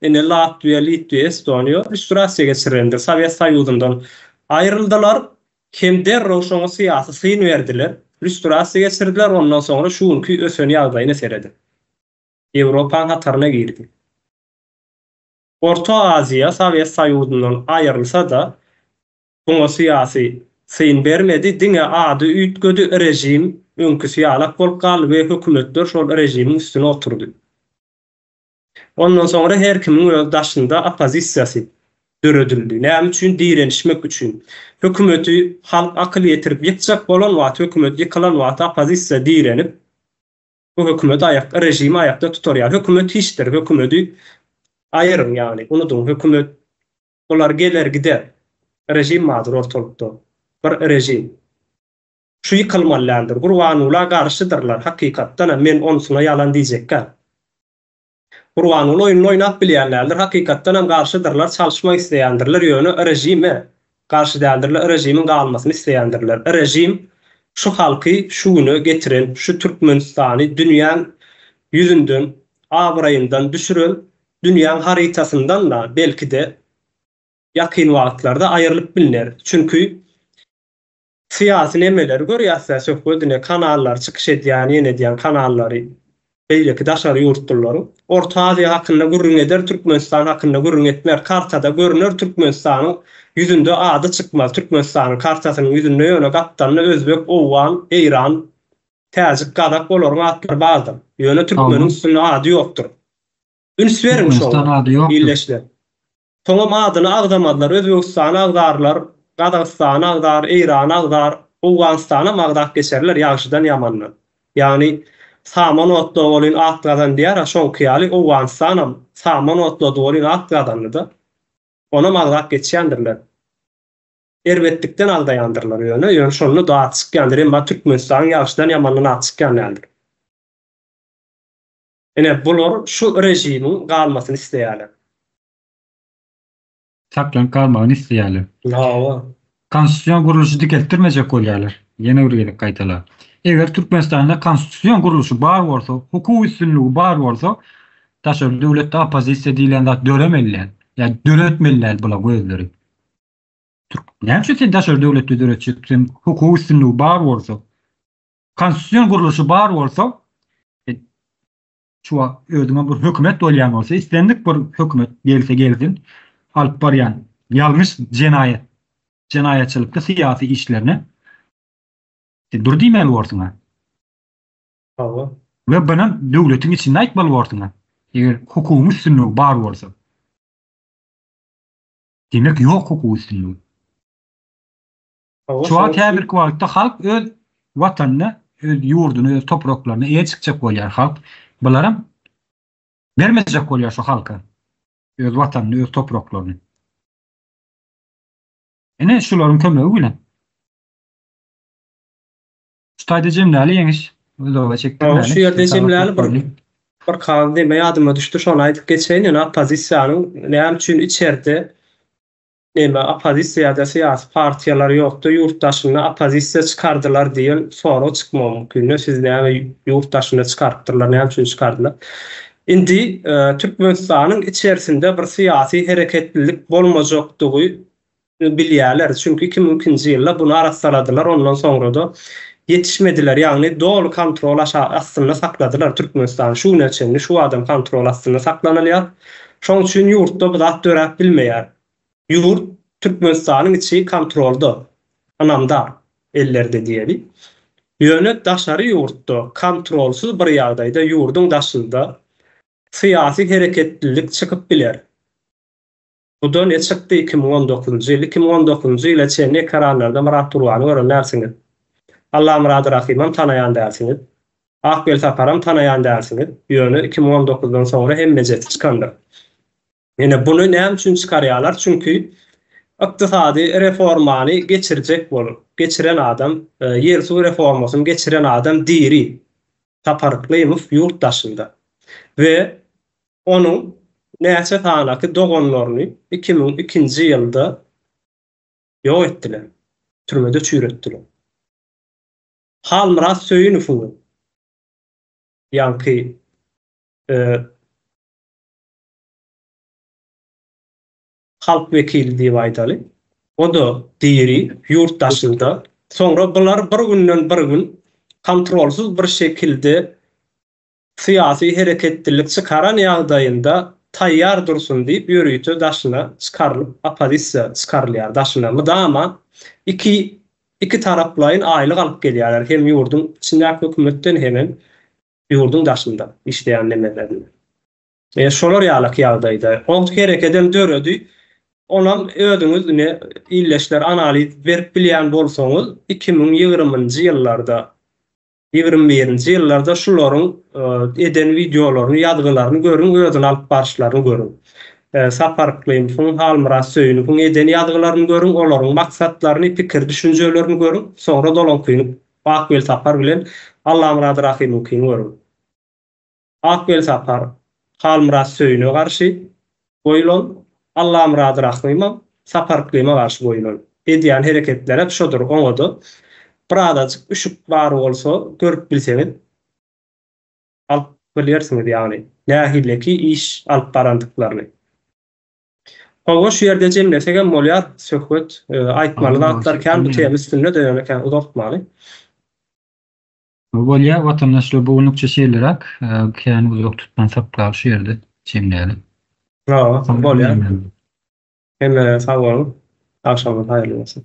ine, Latwiýa, Litwiýa, Estoniýa lýustrasiýa geçirendir, Sowet Soýuzyndan aýryldylar hem derrew şoňa syýasy syn berdiler, lýustrasiýa geçirdiler, ondan soňra şu günki ösen ýagdaýyna serediň. Ýewropaň hataryna girdi. Orta Aziýa Sowet Soýuzyndan aýrylsa-da, Muňa syýasy syn bermedi, diňe ady üýtgedi, režim öňküsi ýalak bolup galdy we hökümetler şol režimiň üstüne oturdy. Ondan soňra her kimiň öz daşynda oppozisiýasy döredildi. Näme üçin? Direnişmek üçin. Hökümeti halk akyl ýetirip ýykjak bolan wagty, hökümet ýykylan wagty oppozisiýa direnip, bu hökümeti aýakda, režimi aýakda tutar. Ýa hökümet hiçdir, hökümeti aýyryň, ýagny unudyň, hökümet Olar geler gider. Režim bardyr ortalykda. Bir režim. Şu ýykylmaly däldir. Gurbanguly-a garşydyrlar hakykatdan-a men onsuna ýalan diýjekkäm. Gurbanguly oýnuny oýnap bilýän däldir hakykatdanam garşydyrlar çalyşmak isleýändirler ýöne režime garşy däldirler režimiň galmasyny isleýändirler. Režim şu halky şu güne getiren şu Türkmenistany dünýäň ýüzünden abraýyndan düşüren Dünýäň harytasyndan-da, belki-de, ýakyn wagtlarda aýrylyp bilner. Çünki, syýasy nemeleri görýäs-dä, söhbedine kanallary çykyş edýän, ýene edýän kanallary, beýleki daşary ýurtlularyň. Orta Aziýa hakynda gürrüň eder, Türkmenistan hakynda gürrüň etmez. Kartada görüner, Türkmenistanyň ýüzünde ady çykmaz. Türkmenistanyň kartasynyň ýüzünde ýöne gapdalynda özbek, owgan, eýran, täjik, gazak olaryň atlary bardyr. Ýöne türkmeniň üstünde ady ýokdur. Üns beriň şoňa, ildeşler. Soňam adyny agzamazlar, Özbegistany agzarlar, Gazagystany agzar, Eýrany agzar, Owganystanam agzap geçerler ýagşydan ýamandan. Ýagny saman otla welin at gazan diýär-a şoňky ýaly Owganystanam saman otlady welin at gazandy-da. Onam agzap geçýändirler. Erbetlikden agzaýandyrlar ýöne, ýöne şonda-da at çykýandyr, emma Türkmenistanyň ýagşydan ýamandan at çykýan däldir. Ine, bular şu režimiň galmasyny isleýärler. Saklanyp galmagyny isleýärler. Hawa. Konstitusion gurluşy dikeltdirmejek bolýarlar. Ýene bir gezek gaýtalar. Eger Türkmenistanda konstitusion gurluşy bar bolsa, hukuk üstünligi bar bolsa, daşary döwletde oppozisiýa diýlen zat döremeli däl. Ýa döretmeli däl bula gözleri. Türk, näme üçin sen daşary döwletde döretjek? Sen hukuk üstünligi bar bolsa, Konstitusion gurluşy bar bolsa, şu wagt özüňe bir hökümet bolýan bolsa, islendik bir hökümet gelse gelsin, alyp barýan ýalňyş jenaýat, jenaýatçylykly syýasy işlerini sen dur diýmeli borsuň-a. Hawa. We bunu döwletiň içinde aýtmaly borsuň-a. Eger hukugyň üstünligi bar bolsa. Demek ýok hukuk üstünligi. Şu wagt häzirki wagtda halk öz Watanyna, öz ýurduna, öz topraklaryna eýe çykjak bolýar halk. Bularam bermejek bolýar şu halka öz Watanyny, öz topraklaryny. Ine şularyň kömegi bilen. Şu taýda jemläli ýeňiş. Uzaga çekdirmäli. Şu ýerde jemläli bir bir kal deme ýadyma düşdi şony aýdyp geçeýin ýöne oppozisiýanyň näme üçin içerde Näme oppozisiýada syýasy partiýalar ýokda ýurt daşynda oppozisiýa çykardylar diýen sorag çykmagy mümkinde siz näme ýurt daşynda çykarypdyrlar näme üçin çykardylar. Indi Türkmenistanyň içersinde bir syýasy hereketlilik bolmajakdygy ny bilýäler çünki iki müň ikinji ýylda buny arassaladylar ondan soňrada ýetişmediler ýagny doly kontrol aşa astynda sakladylar Türkmenistany şu güne çenli şu adam kontrol astynda saklanylýar. Şoň üçin ýurtda bu zat döräp bilmeýär. Ýurt Türkmenistanyň içi kontrolda, ynamdar ellerde diýeli. Ýöne daşary ýurtda kontrolsyz bir ýagdaýda ýurduň daşynda syýasy hereketlilik çykyp biler. Huda ne çykdy iki müň on dokuzynjy ýyl iki müň on dokuzynjy ýyla çenli ekeranlarda Myrat Turbany gören dälsiňiz. Allamyrady Rahymam tanaýan dälsiňiz. Akbel Saparam tanaýan dälsiňiz. Ýöne iki müň on dokuzdan soňra hemmejesi çykandyr. Ine buny näme üçin çykarýalar çünki ykdysady reformany geçirjek bolup geçiren adam ýer suw reformasyny geçiren adam diri Sapar Yklymow ýurt daşynda we Onuň näçe sanaky doganlaryny iki müň ikinji ýylda ýok etdiler, türmede çüýretdiler. Halmyrat Söýünowyň we ýaňky halk wekili diýip aýdaly, o-da diri, ýurt daşynda. Soňra bular bir günden bir gün kontrolsyz bir şekilde Syýasy hereketlilik çykaran ýagdaýynda taýýar dursun diýip ýörite daşyna çykarylyp oppozisiýa çykarylýar daşyna mydama iki iki taraplaýyn aýlyk alyp gelýärler hem ýurduň içindäki hökümetden hemem ýurduň daşynda işleýän nemelerinden e şolar ýalaky ýagdaýda owt herekedem döredi onam özüňiz ine illeşler analiz berip bilýän bolsaňyz iki müň ýigrimi nji ýyllarda Ýigrimi birinji ýyllarda şularyň eden wideolaryny, ýazgylaryny görüň, özüni alyp baryşlaryny görüň. Sapar Yklymowyň, Halmyrat Söýünowyň eden ýazgylaryny görüň, olaryň maksatlaryny, pikir-düşünjelerini görüň, soňra dolaňkyny Ak Welsapar bilen Allamyrat Rahymowyňkyny görüň. Ak Welsapar Halmyrat Söýüne garşy goýulan, Allamyrat Rahymyň Saparyklyma garşy goýulan edýän hereketleri hem şodur, oňa-da birazajyk üşük bar bolsa görüp bilseňiz alyp bilýärsiňiz ýagny nähileki iş alyp barandyklaryny. Hawa şu ýerde jemlesegem bolýar söhbet, aýtmaly zatlar kän bu tema üstünde-de ýöne kän uzaltmaly. Bolýa watandaş şu bu günlükçe şeýleräk kän uzak tutmansak galy şu ýerde jemleýeli. Hawa bolýa hemme sag boluň agşamyňyz haýyrly bolsun.